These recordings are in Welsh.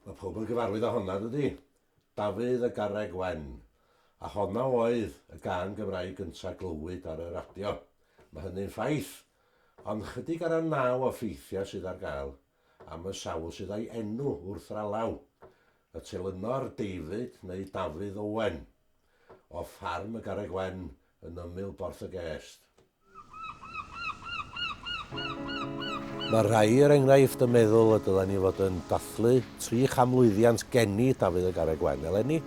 Mae pob yn gyfarwydd â honna, dydy? Dafydd a Garreg Wen. A honna oedd y gân Gymraeg gynta' glywyd ar y radio. Mae hynny'n ffaith. Ond chydig ar y naw o ffeithiau sydd ar gael. am y sawl sydd â'i enw wrth ralaw, y telynor David neu Dafydd Owen, o ffarm y Garreg Wen yn ymyl Borth-y-gest. Mae rhai, er enghraifft, yn meddwl y dylen ni fod yn dathlu tri chanmlwyddiant geni Dafydd y Garreg Wen eleni,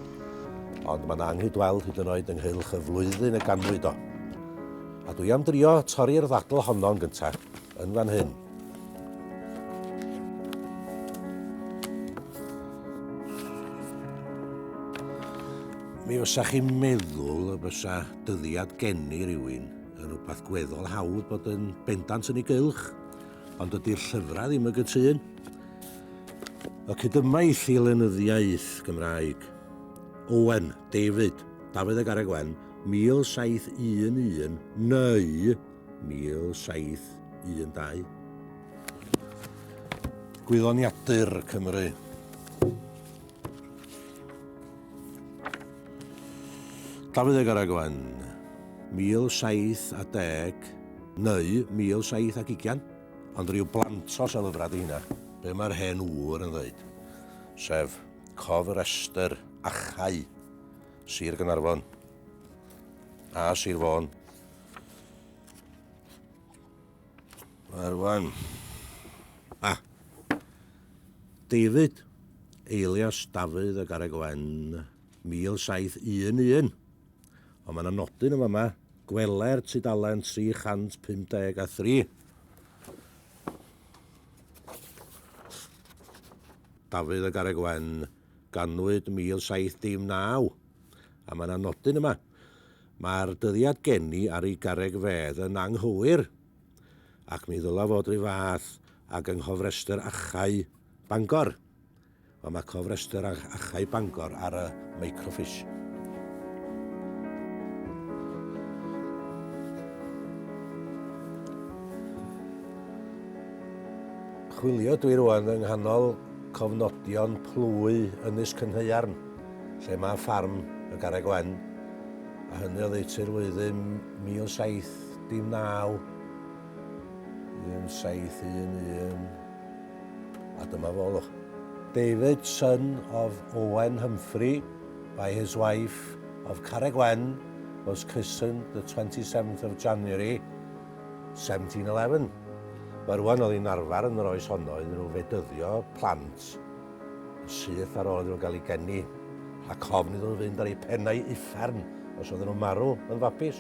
ond mae yna anghydweld hyd yn oed ynghylch y flwyddyn y ganwyd o. A dwi am drio torri'r ddadl honno'n gyntaf, yn fan hyn. Mi fysa chi'n meddwl y bysa dyddiad geni rhywun yn rhywbeth gweddol hawdd bod yn bendant yn ei gylch, ond ydy'r llyfrau ddim y gytun. Y cydymais i lenyddiaeth Gymraeg. Owen, David, Dafydd y Garreg Wen, 1711, neu 1712. Gwyddoniadur Cymru. Dafydd ag Araglan, 1710 neu 1720, ond rhyw blantos o lyfrau di hynna, be mae'r hen ŵr yn ddweud, sef Cof yr Estr, Achau, Sir Gynarfon a Sir Fôn. Wel, wan. Ah. David, eilias Dafydd y Garreg Wen, 1711. Ond mae yna nodyn yn fama, gweler tudalen 353. Dafydd y Garreg Wen, ganwyd 1719. A mae yna nodyn yma, Mae'r dyddiad geni ar ei garreg fedd yn anghywir, ac mi ddylai fod r'un fath ag yng nghofrestr achau Bangor. Wel, mae cofrestr achau Bangor ar y microfish. Chwilio dwi rwan yng nghanol cofnodion plwy Ynys Cynhaearn. lle mae ffarm y Garreg Wen, a hynny oddeutu'r flwyddyn 1719, 1711, a dyma fo, lwch. David, son of Owen Humphrey, by his wife, of Carreg Wen, was christened the 27th of January, 1711. Mae rwan oddi'n arfer yn yr oes honno iddyn nhw fedyddio plant. yn syth ar ôl iddyn nhw gael eu geni, rhag cofn iddyn nhw fynd ar eu pennau uffern os oedden nhw'n marw yn fabis.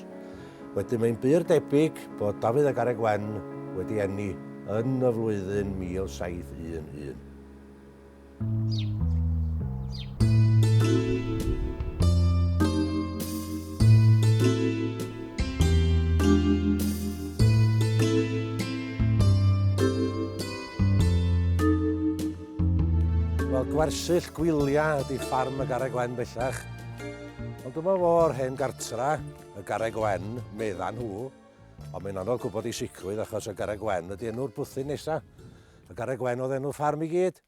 Wedyn mae'n bur debyg bod Dafydd a Garreg Wen wedi eni yn y flwyddyn 1711. Wel, gwersyll gwylia ydi ffarm y Garreg Wen bellach. Ond dyma fo yr hen gartra, y Garreg Wen, medda nhw. Ond mae'n anodd gwybod i sicrwydd achos y Garreg Wen ydi enw'r bwthyn nesa. Y Garreg Wen oedd enw ffarm i gyd,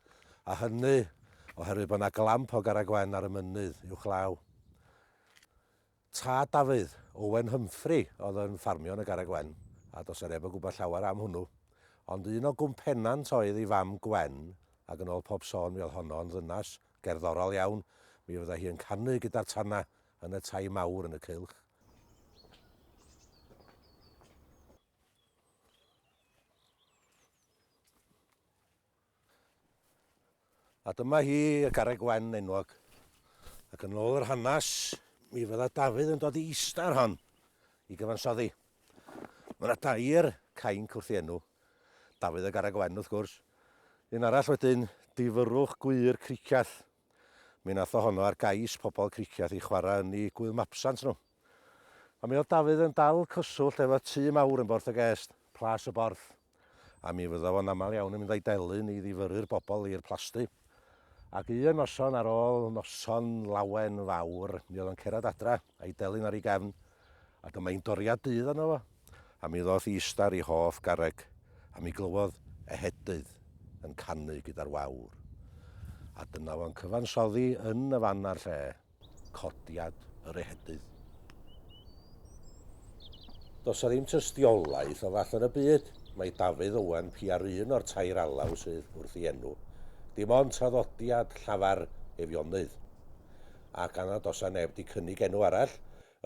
a hynny oherwydd bod yna glamp o Garreg Wen ar y mynydd uwchlaw. Tad Dafydd, Owen Humphrey, oedd yn ffarmio yn y Garreg Wen, a does 'na neb yn gwybod llawer am hwnnw. Ond un o gwmpennant oedd ei fam Gwen, ac yn ôl pob sôn mi oedd honno yn ddynas gerddorol iawn, mi fydda hi yn canu gyda'r tana yn y tai mawr yn y cylch. A dyma hi, y Garreg Wen enwog. Ac yn ôl yr hanes, mi fydda Dafydd yn dod i ista ar hon i gyfansoddi. Mae yna dair cainc wrth i enw, Dafydd y Garreg Wen wrth gwrs, un arall wedyn, Difyrrwch Gwŷr Cricieth. Mi nath o honno ar gais pobl Cricieth i chwarae yn 'u gŵyl mabsant nhw. Ond mi oedd Dafydd yn dal cyswllt efo'r tŷ mawr yn Borth y Gest, Plas y Borth, a mi fydda fo'n aml iawn yn mynd â'i delyn i ddifyrru'r bobl i'r plasty. Ac un noson ar ôl noson lawen fawr, mi oedd o'n cerad adra, a'i delyn ar ei gefn, a dyma hi'n doriad dydd arno fo, a mi ddoth i ista ar ei hoff garreg, a mi glywodd ehedydd yn canu gyda'r wawr. A dyna fo'n cyfansoddi yn y fan a'r lle. codiad yr ehedydd. Does 'na ddim tystiolaeth o fallon y byd mai Dafydd Owen pia'r un o'r tair alaw sydd wrth ei enw, dim ond traddodiad llafar Eifionydd. Ac a nad oes 'na neb 'di cynnig enw arall,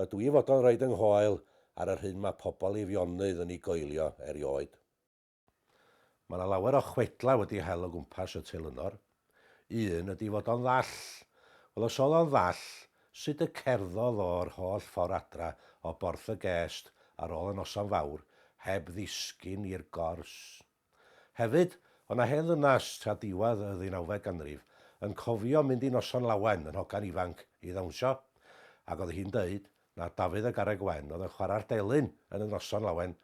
ydw i fod o'n rhoid yng nghoel ar yr hyn mae pobl Eifionydd yn ei goelio erioed. Mae 'na lawer o chwedlau wedi hel o gwmpas y telynor. Un ydi fod o'n ddall. Wel, os oedd o'n ddall, sut y cerddodd o'r holl ffordd adra o Borth y Gest ar ôl y noson fawr heb ddisgyn i'r gors? Hefyd, o' 'na hen ddynas tra diwadd y ddeunawfed ganrif yn cofio mynd i Noson Lawen yn hogan ifanc i ddawnsio, ac o'dd hi'n deud, na Dafydd y Garreg Wen oedd yn chwarae'r delyn yn y noson lawen,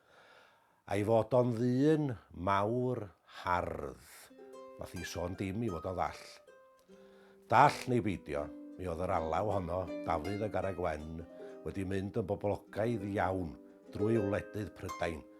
a'i fod o'n ddyn mawr hardd, nath hi sôn dim i fod o ddall. Dall neu beidio, mi oedd yr alaw honno Dafydd y Garreg Wen wedi mynd yn boblogaidd iawn drwy wledydd Prydain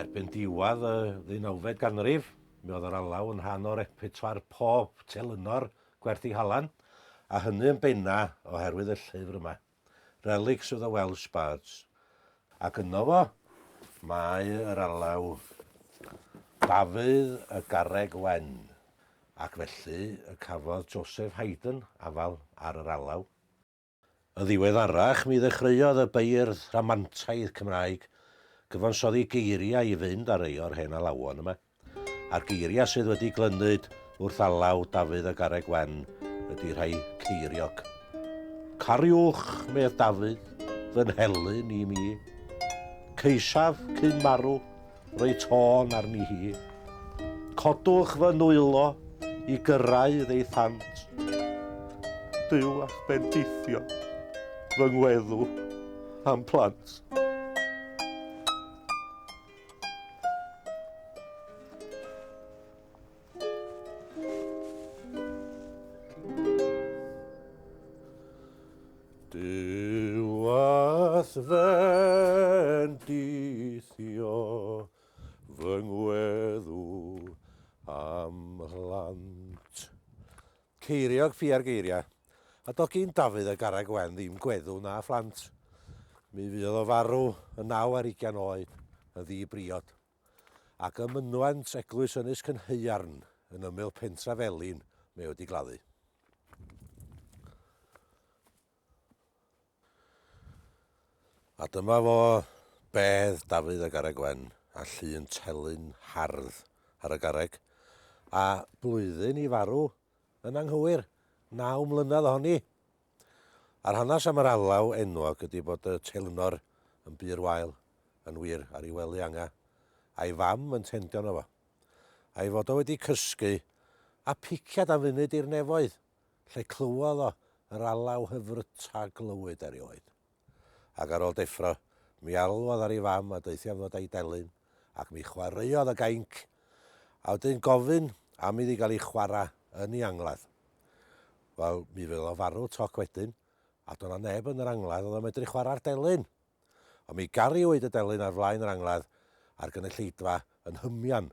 Erbyn diwadd y ddeunawfed ganrif, mi oedd yr alaw yn rhan o repertoire pob telynor gwerth ei halan, a hynny yn benna oherwydd y llyfr yma, Relics of the Welsh Bards. Ac yno fo, mae yr alaw Dafydd y Garreg Wen, ac felly y cafodd Joseph Haydn afal ar yr alaw. Yn ddiweddarach mi ddechreuodd y beirdd rhamantaidd Cymraeg gyfansoddi geiriau i fynd â rhei o'r hen alawon yma, a'r geiriau sydd wedi glynyd wrth alaw Dafydd y Garreg Wen ydy rhai ceiriog. Cariwch, medd Dafydd, fy nhelyn i mi. Caesaf, cyn marw, Rhoi tôn arni hi. Codwch fy nwylo i gyrraedd ei thant. Duw a'ch bendithio fy ngweddw a'm plant. Duw a'th fendithio, fy ngweddw a'm mhlant. Ceiriog ffia'r geiriau, a doedd gin Dafydd a Garreg Wen ddim gweddw na phlant. Mi fuodd o farw yn naw ar ugain oed, yn ddi-briod. ac ym mynwent eglwys Ynys Cynhaearn yn ymyl pentra Felin mae wedi gladdu. A dyma fo bedd Dafydd a Garreg Wen a llun telyn hardd ar y garreg, a blwyddyn i farw yn anghywir, naw mlynedd ohoni. A'r hanes am yr alaw enwog ydi bod y teilynor yn bur wael, yn wir, ar ei wely anga, a'i fam yn tendio yno fo. A'i fod o wedi cysgu, a piciad am funud i'r nefoedd, lle clywodd o yr alaw hyfryta glywyd erioed. ac ar ôl deffro, mi alwodd ar ei fam a deutha fod a'i delyn, ac mi chwaraeodd y gainc, a wedyn gofyn am iddi gael ei chwarae yn ei angladd. Wel, mi fydd o farw toc wedyn, a do' 'na neb yn yr angladd oedd yn medru chwarae'r delyn! Ond mi gariwyd y delyn ar flaen yr angladd, a'r gynulleidfa yn hymian